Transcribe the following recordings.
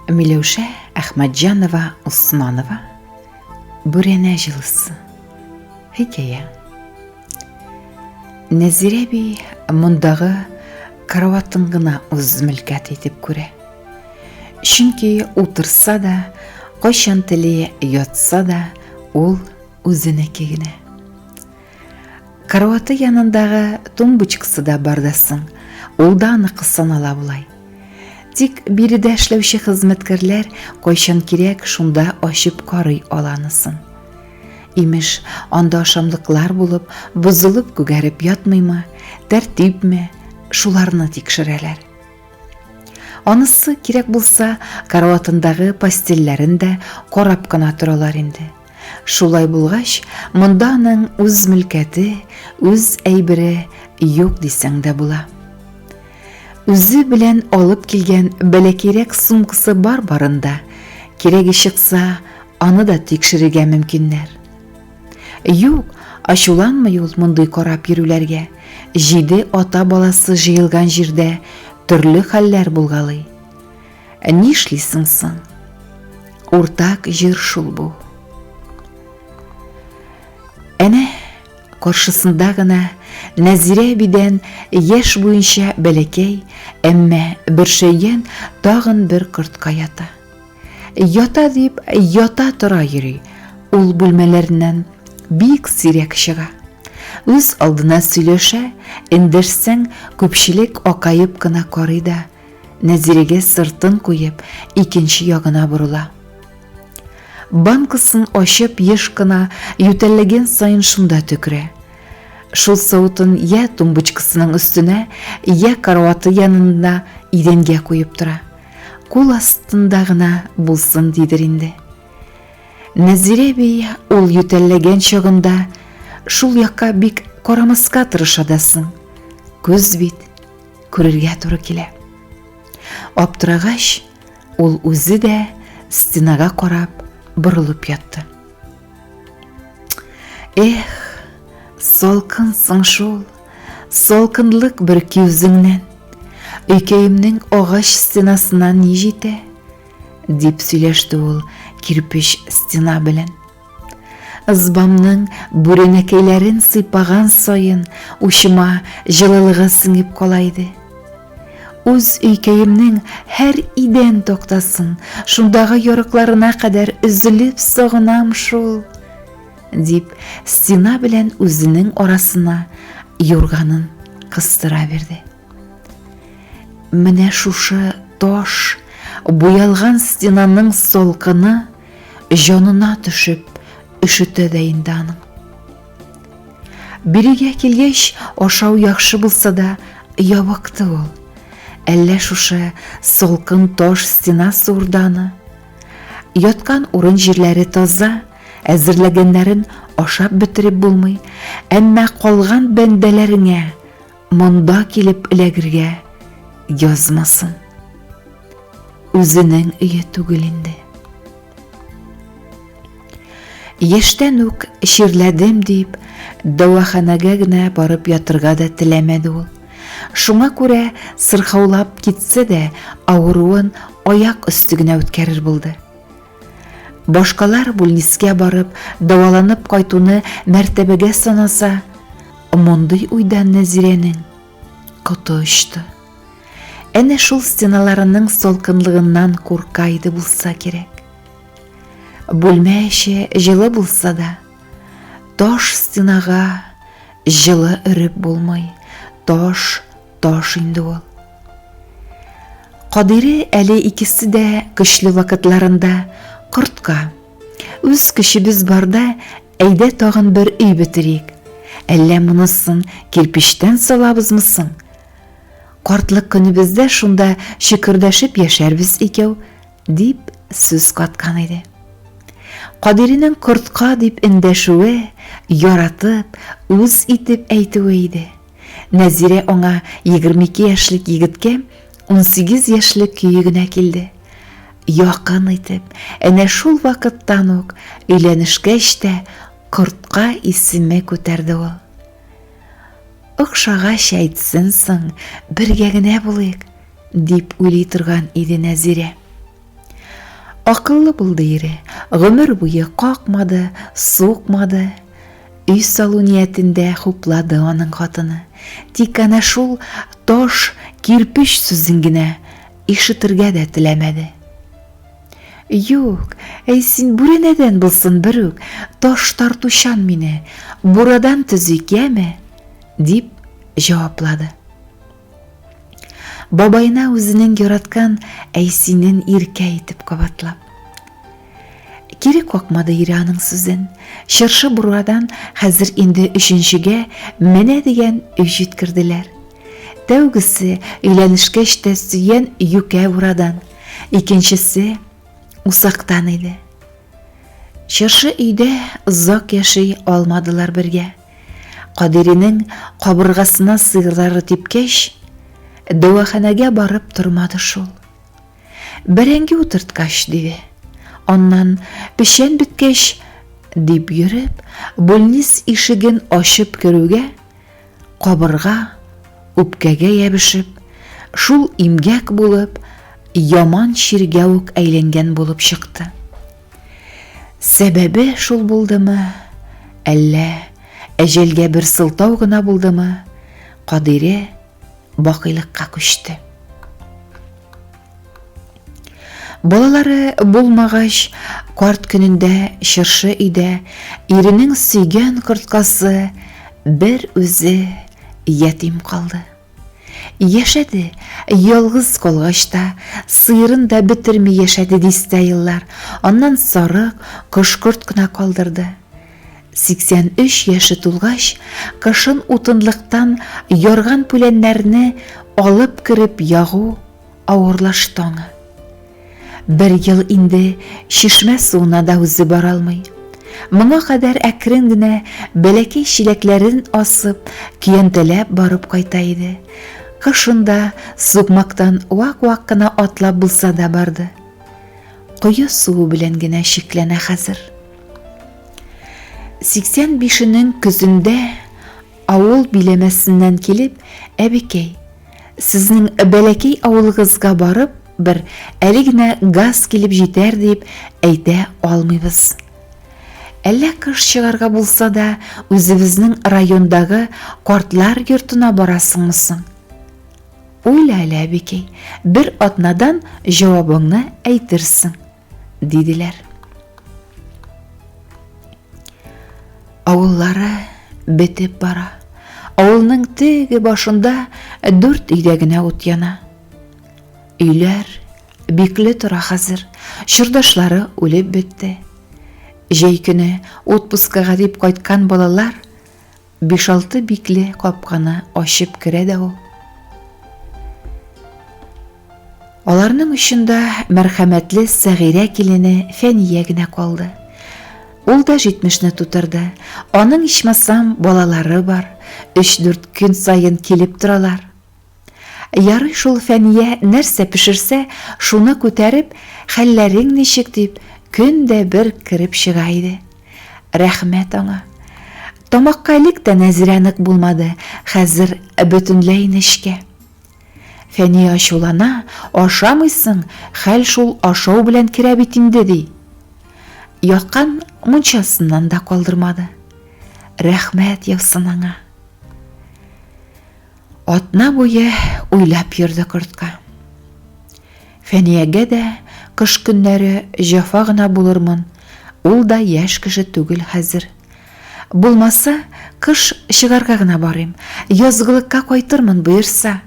Миләүшә Әхмәтҗанова Усманова Бүрәнә җылысы хикәя Нәзирә би мондагы караватын гына үз мөлкәт итеп күрә. Чөнки утырса да, кайчан теле ятса да, ул үзенеке генә. Караваты янындагы тумбочкасы да бар да соң, ул да аныкы санала болай. Тик биредә эшләүче хезмәткәрләр кайчан кирәк, шунда ачып карый аланысын. Имеш, анда ашамлыклар булып, бозылып күгәреп ятмыймы, тәртипме, шуларны тикшерәләр. Анысы кирәк булса, караватындагы постельләрен дә карап кына торалар инде. Шулай булгач, монда аның үз мөлкәте, үз әйбере юк дисәң дә була. Үзе белән алып килгән бәләкирәк сумкасы бар барында, кирәге чыкса, аны да тикшерергә мөмкиннәр. Юк, ачуланмый ул мондый карап йөрүләргә. Җиде ата баласы җыелган җирдә төрле хәлләр булгалый. Ә нишлисең соң? Уртак җир шул бу. Әнә каршысында гына Нәзирә бидән яш буенча бәләкәй, әмма бөршәйгән тагын бер кортка ята. Ята дип, ята тора йөри. Ул бүлмәләреннән бик сирәк чыга. Үз алдына сөйләшә, эндерсәң, күпчелек акаеп кына карый да, Нәзирегез сыртын куеп, икенче ягына борыла. Банкасын ачып, еш кына ютәлләгән саен шунда төкерә. Шул савытын я тумбочкасының өстенә, я караваты янында идәнгә куеп тора. Кул астында гына булсын дидер инде. Нәзирә би ул ютәлләгән чагында шул якка бик карамаска тырыша да соң. Күз бит, Күрергә туры килә. Аптырагач, ул үзе дә стенага карап борылып ятты. Эх, салкын соң шул, салкынлык бер киүзеңнән. Өйкәемнең агач стенасына ни җитә? дип сөйләште ул кирпеч стена белән. Ызбамның бүрәнәкәйләрен сыйпаган саен учыма җылылыгы сеңеп кала иде. Үз өйкәемнең һәр идән токтасын, шундагы ярыкларына кадәр өзелеп сагынам шул, дип, стена белән үзенең арасына юрганын кыстыра бирде. Менә шушы таш буялган стенаның солкыны җанына төшеп өшетә дә инде аның. Бирегә килгәч, ашау яхшы булса да, ябыкты ул. Әллә шушы солкын таш стена сурданы. Яткан урын җирләре таза, әзерләгәннәрен ашап бетереп булмый, әмма калган бәндәләреңә Монда килеп эләгергә язмасын. Үзенең өе түгел инде. Яшьтән үк чирләдем дип, дәваханәгә генә барып ятырга да теләмәде ул. Шуңа күрә сырхаулап китсә дә, авыруын аяк өсте генә үткәрер булды. Башкалар бүлнискә барып, даваланып кайтуны мәртәбәгә санаса, мондый уйдан Нәзирәнең коты очты. Әнә шул стеналарының солкынлыгыннан курка иде булса кирәк. Бүлмә эче җылы булса да, таш стенага җылы өреп булмый. Таш Таш инде ул. Кадире әле икесе дә көчле вакытларында кортка. Үз көчебез барда әйдә тагын бер өй бетерик. Әллә монысын кирпичтән салабызмы соң? Картлык көнебездә шунда шөкердәшеп яшәрбез икәү, дип сүз каткан иде. Кадиринең кортка дип эндәшүе, яратып, үз итеп әйтүе иде. Нәзирә аңа егерме ике яшьлек егеткә унсигез яшьлек көе генә килде. Якын итеп, әнә шул вакыттан ук өйләнешкәч тә Кортка исеме күтәрде ул. Охшагач әйтсен соң, бергә генә булыйк, дип уйлый торган иде Нәзирә. Акыллы булды ире, гомер буе какмады, сукмады. Өй салу ниятендә хуплады аның хатыны. Тик әнә шул таш, кирпеч сүзен генә ишетергә дә теләмәде. Юк, әй син бүрәнәдән булсын берүк, таш тартучан мине, бурадан төзик, яме? дип җаваплады. Бабайына үзенең яраткан әйсинен иркә итеп кабатлап. Кире какмады ире аның сүзен. Чыршы бургадан хәзер инде өченчегә менә дигән өй җиткерделәр. Тәүгесе өйләнешкәч тә сөйгән юкә бурадан, икенчесе усактан иде. Чыршы өйдә озак яши алмадылар бергә. Кадиринең кабыргасына сыерлары типкәч, дәваханәгә барып тормады шул. Бәрәңге утырткач, диде. Аннан, печән беткәч, дип йөреп, бүлнис ишеген ачып керүгә, кабырга, үпкәгә ябешеп, шул имгәк булып, яман чиргә үк әйләнгән булып чыкты. Сәбәбе шул булдымы, әллә әҗәлгә бер сылтау гына булдымы, Кадире бакыйлыкка күчте. Балалары булмагач, карт көнендә чыршы өйдә иренең сөйгән корткасы бер үзе ятим калды. Яшәде, ялгыз калгач та, сыерын да бетерми яшәде дистә еллар, аннан сарык, кош-корт кына калдырды. 83 яше тулгач, кышын утынлыктан ярган-пүләннәрне алып кереп ягу, Авырлашты аңа. Бер ел инде чишмә суына да үзе бара алмый. Моңа кадәр әкрен генә бәләкәй чиләкләрен асып, көянтәләп барып кайта иде. Кышында сукмактан вак-вак кына атлап булса да барды. Кое суы белән генә чикләнә хәзер. 85-нең көзендә Авыл биләмәсеннән килеп, әбекәй, сезнең бәләкәй авылыгызга барып, бер әле генә газ килеп җитәр дип әйтә алмыйбыз. Әллә кыш чыгарга булса да, үзебезнең райондагы картлар йортына барасыңмы соң? Уйла әле, әбекәй, бер атнадан җавабыңны әйтерсең. Диделәр. Авыллары бетеп бара. Авылның теге башында дүрт өйдә генә ут яна. Өйләр бикле тора хәзер. Чордашлары үлеп бетте. Җәй көне отпускага дип кайткан балалар Биш-алты бикле капканы ачып керә дә ул. Аларның очында мәрхәмәтле Сәгыйрә килене Фәния генә калды. Ул да 70-не тутырды. Аның ичмасам балалары бар, 3-4 көн саен килеп торалар. Ярый шул Фәния нәрсә пешерсә, шуны күтәреп, хәлләрең ничек дип, көн дә бер кереп чыга иде. Рәхмәт аңа. Тамакка элек тә Нәзирә нык булмады, хәзер бөтенләй нечкә. Фәния ачулана, ашамыйсың, хәл шул ашау белән керә бит инде, ди. Яккан мунчасыннан да калдырмады. Рәхмәт яусын аңа. Атна буе уйлап йөрде кортка. Фәниягә дә кыш көннәре җафа гына булырмын, ул да яшь кеше түгел хәзер. Булмаса, кыш чыгарга гына барыйм, язгылыкка кайтырмын боерса.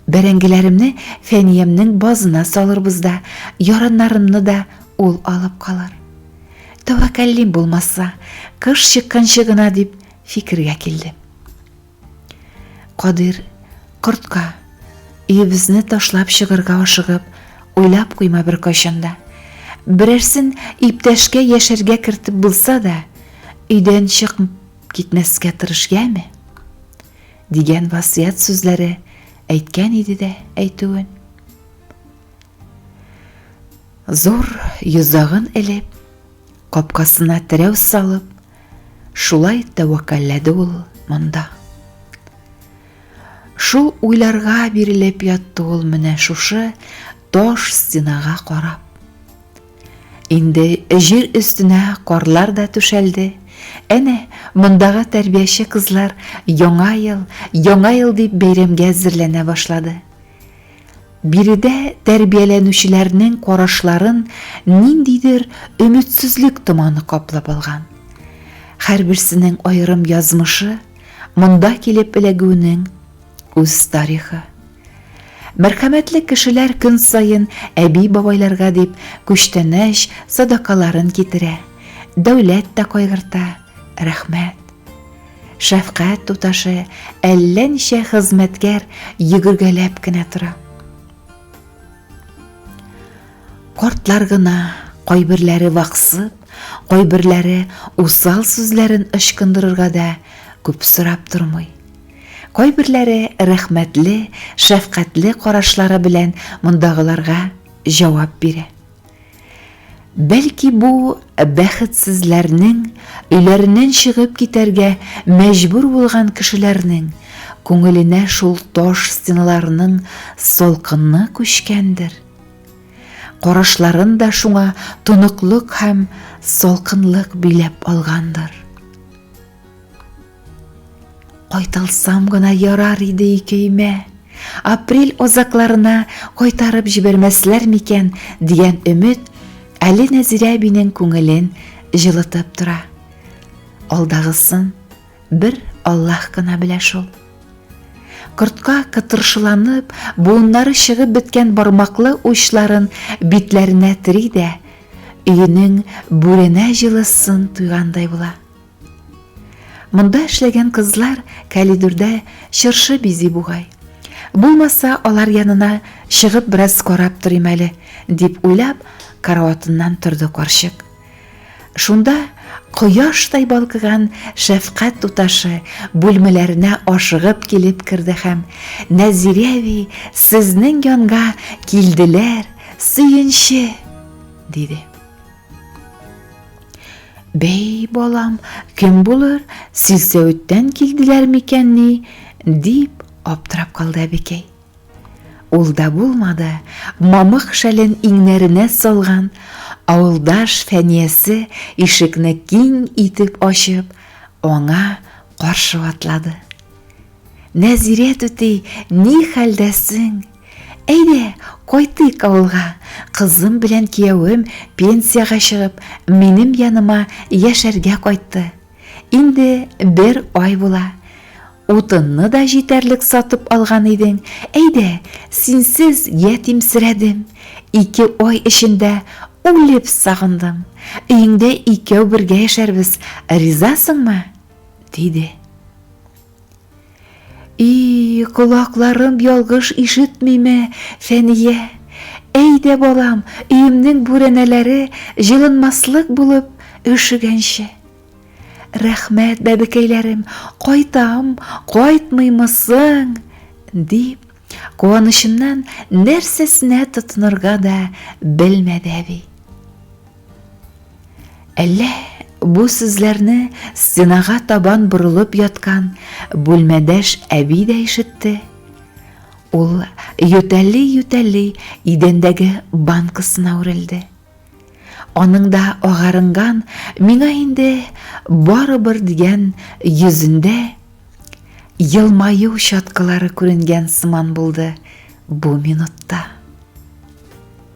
Бәрәңгеләремне Фәниямнең базына салырбыз да, яраннарымны да ул алып калыр. Тәвәккәллим булмаса, кыш чыкканчы гына дип фикергә килдем. Кадир кортка өебезне ташлап чыгырга ашыгып, уйлап куйма бер кайчанда. Берәрсен иптәшкә яшәргә кертеп булса да, өйдән чык китмәскә тырыш яме. Дигән васыят сүзләре әйткән иде дә әйтүен. Зур йозагын элеп, капкасына терәү салып, Шулай тәвәккәлләде ул монда. Шул уйларга бирелеп ятты ул менә шушы таш стенага карап. Инде җир өстенә карлар да түшәлде. Әнә мондагы тәрбияче кызлар яңа ел, яңа ел дип бәйрәмгә әзерләнә башлады. Биредә тәрбияләнүчеләрнең карашларын ниндидер өметсезлек томаны каплап алган. Һәрберсенең аерым язмышы, монда килеп эләгүенең үз тарихы. Мәрхәмәтле кешеләр көн саен әби-бабайларга дип күчтәнәч садакаларын китерә, дәүләт тә кайгырта. Рәхмәт. Шәфкать туташы әллә ничә хезмәткәр йөгергәләп кенә тора. Кортлар гына кайберләре ваксып, кайберләре усал сүзләрен ычкындырырга да күп сорап тормый. Кайберләре рәхмәтле, шәфкатьле карашлары белән мондагыларга җавап бирә. Бәлки бу бәхетсезләрнең, өйләреннән чыгып китәргә мәҗбүр булган кешеләрнең күңеленә шул таш стеналарның салкынны күчкәндер. Карашларын да шуңа тоныклык һәм салкынлык биләп алгандыр. Кайталсам гына ярар иде икәймә. Апрель озакларына кайтарып җибәрмәсләр микән дигән өмет әле Нәзирә әбинең күңелен җылытып тора. Алдагысын бер Аллаһ кына белә шул. Кортка кытыршыланып, буыннары чыгып беткән бармаклы учларын битләренә тери дә, өенең бүренә җылысын туйгандай була. Монда эшләгән кызлар калидурда чыршы бизи бугай. Булмаса, алар янына чыгып бераз карап торыйм әле, дип уйлап, караватыннан торды карчык. Шунда кояштай балкыган шәфкать туташы бүлмәләренә ашыгып килеп керде һәм Нәзирә әби сезнең янга килделәр, сөенче, диде. Бәй, балам, кем булыр, силсәветтән килделәр микән ни? дип аптырап калды әбекәй. Ул да булмады, мамык шәлен иңнәренә салган, авылдаш фәниясе ишекне киң итеп ачып, аңа каршы атлады. Нәзирә түти, ни хәлдәсең? Әйдә, кайтыйк авылга. Кызым белән киявем пенсиягә чыгып, минем яныма яшәргә кайтты. Инде бер ай була. Утынны да җитәрлек сатып алган идең. Әйдә, синсез ятимсерәдем. Ике ай эчендә үлеп сагындым. Өеңдә икәү бергә яшәрбез, ризасыңмы? диде. И, колакларым ялгыш ишетмиме, Фәния? Әйдә, балам, өемнең бүрәнәләре җылынмаслык булып өшегәнче. Рәхмәт, бәбекәйләрем, кайтам, кайтмыймы соң? дип, куанычыннан нәрсәсенә тотынырга да белмәде әби. Әллә бу сүзләрне стенага табан борылып яткан бүлмәдәш әби дә ишетте? Ул ютәли-ютәли идәндәге банкасына үрелде. Аның да агарынган, миңа инде барыбер дигән йөзендә елмаю чаткылары күренгән сыман булды бу минутта.